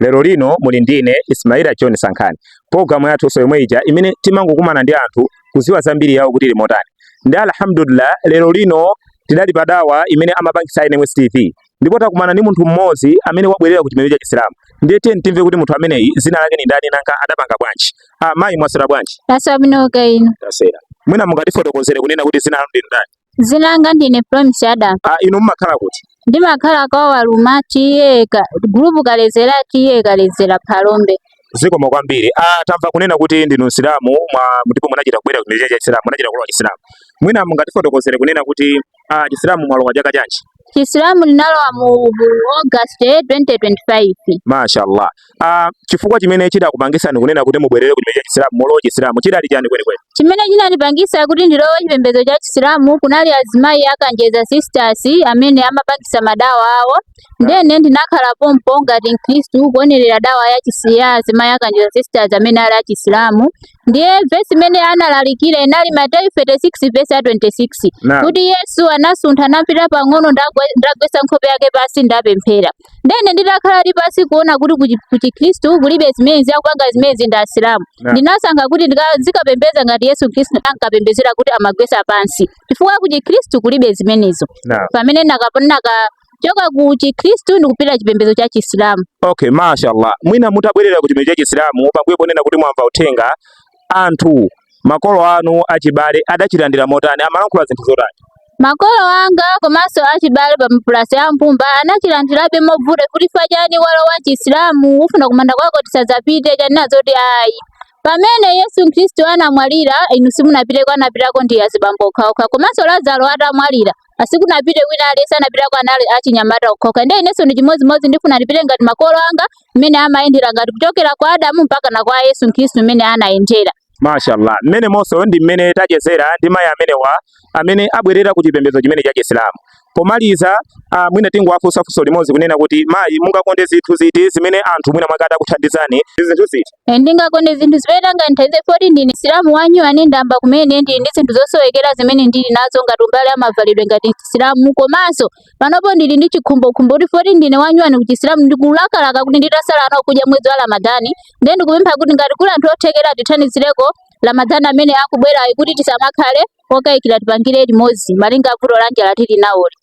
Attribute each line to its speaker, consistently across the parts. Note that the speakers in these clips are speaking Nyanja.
Speaker 1: lero lino muli ndi ine Ismaila John Sankhani programu yathunso yomwe ija imene timangokumana ndi anthu kuziwa zambiri yawo kuti limotani ndi alhamdulillah lero lino tidali pa dawa imene amapangisa NMS TV ndipo takumana ndi munthu mmodzi amene wabwerera ku chipembedzo cha Chisilamu ndiye tiyeni timve kuti munthu ameneyi zina lake ni ndani nanga adapanga bwanji ah mayi mwasera bwanji tasera bwino kaya
Speaker 2: inu tasera mwina
Speaker 1: mungatifotokozere kunena kuti zina lanu ndi ndani Dzina langa
Speaker 2: ndine Promise Adam. Ah, inu mumakhala
Speaker 1: kuti? Ndimakhala
Speaker 2: kwa Waluma TA Ka- group Kalezera TA Kalezera Phalombe. zikomo
Speaker 1: kwambiri ah, tamva kunena kuti ndinu msilamu mwa- ndipo munachita kubwera ku chipembedzo cha chisilamu munachita kulowa chisilamu mwina mungatifotokozere kunena kuti ah, chisilamu mwalowa chaka chanji Chisilamu
Speaker 2: ndinalowa mu August 2025.
Speaker 1: Mashallah. Ah, chifukwa chimene chidakupangitsani kunena kuti mubwerere ku chipembedzo cha Chisilamu mulowe Chisilamu chidali chani kwenikweni? Chimene chinandipangitsa
Speaker 2: kuti ndilowe chipembedzo cha Chisilamu kunali azimayi a Kanjeza Sisters amene amapangitsa madawa awo ndene ndinakhala pompo ngati Mkhristu kuonerera dawa ya chisi ya azimayi a Kanjeza Sisters amene ali a Chisilamu ndiye vesi imene analalikira inali mateyu 36 vesi ya 26 Naam. kuti yesu anasuntha napita pang'ono ndagwe- ndagwetsa nkhope yake pansi ndapemphera ndene nditakhala pansi kuona kuti kuchi- kuchikhristu kulibe zimenezi akupanga zimenezi ndi asilamu Naam. ndinasankha kuti ndika- zikapembeza ngati yesu khristu ankapembezera kuti amagwetsa pansi chifukwa kuchikhristu kulibe zimenezo Naam. pamene nakap- naka- choka ku Chikhristu ndi kupita chipembedzo cha Chisilamu. Okay,
Speaker 1: mashallah. Mwina mutabwerera ku chipembedzo cha Chisilamu pambuyo ponena kuti mwamva uthenga anthu makolo anu achibale adachilandira motani amalankhula zinthu zotani? Makolo anga
Speaker 2: komanso achibale plus a mbumba anachilandirabe mobvuta kuti chifukwa chani walowa Chisilamu ufuna kumanda kwako tisadzapite chani ndati ayi Pamene Yesu Kristu anamwalira inu simunapiteko anapitako ndi azibambo okhaokha komanso Lazaro atamwalira asikunapite wina aliyense anapitako anali achinyamata okhaokha ndiye inenso ndi chimodzimodzi ndifuna ndipite ngati makolo anga mmene amayendera ngati kuchokera kwa adamu mpaka na kwa yesu khristu mmene anayendera mashallah
Speaker 1: mmenemo onse ndi mmene tachezera ndi mayi amenewa amene abwerera ku chipembedzo chimene cha chisilamu pomaliza uh, mwina tingowafunsa funso limodzi kunena kuti mayi mungakonde zinthu ziti zimene anthu mwina atati akuthandizani zinthu ziti Eh, ndingakonde
Speaker 2: zinthu zimene angandithandize poti ndine msilamu wanyuwani ndayamba kumene ndili ndi zinthu zosowekera zimene ndili nazo ngati mbali ya mavalidwe ngati msilamu komanso panopo ndili ndi chikhumbokhumbo kuti poti ndine wanyuwani kuchisilamu ndikulakalaka kuti nditasala nawo kudya mwezi wa ramadhani ndiye ndikupempha kuti ngati kuli anthu othekera tithandizireko ramadhani amene akubwerayu kuti tisamakhale okayikira tipangire limodzi malinga ndi vuto la njala tili naloli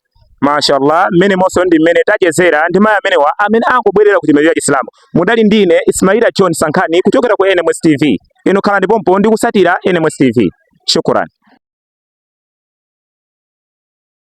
Speaker 1: Mashallah, mmenemo onse ndi mmene tachezera ndi mayi amenewa amene angobwerera ku chipembedzo cha Chisilamu. Mudali ndine Ismaila John Sankhani kuchokera ku NMS TV. Inu khalani pompo ndi kusatira NMS TV. Shukran.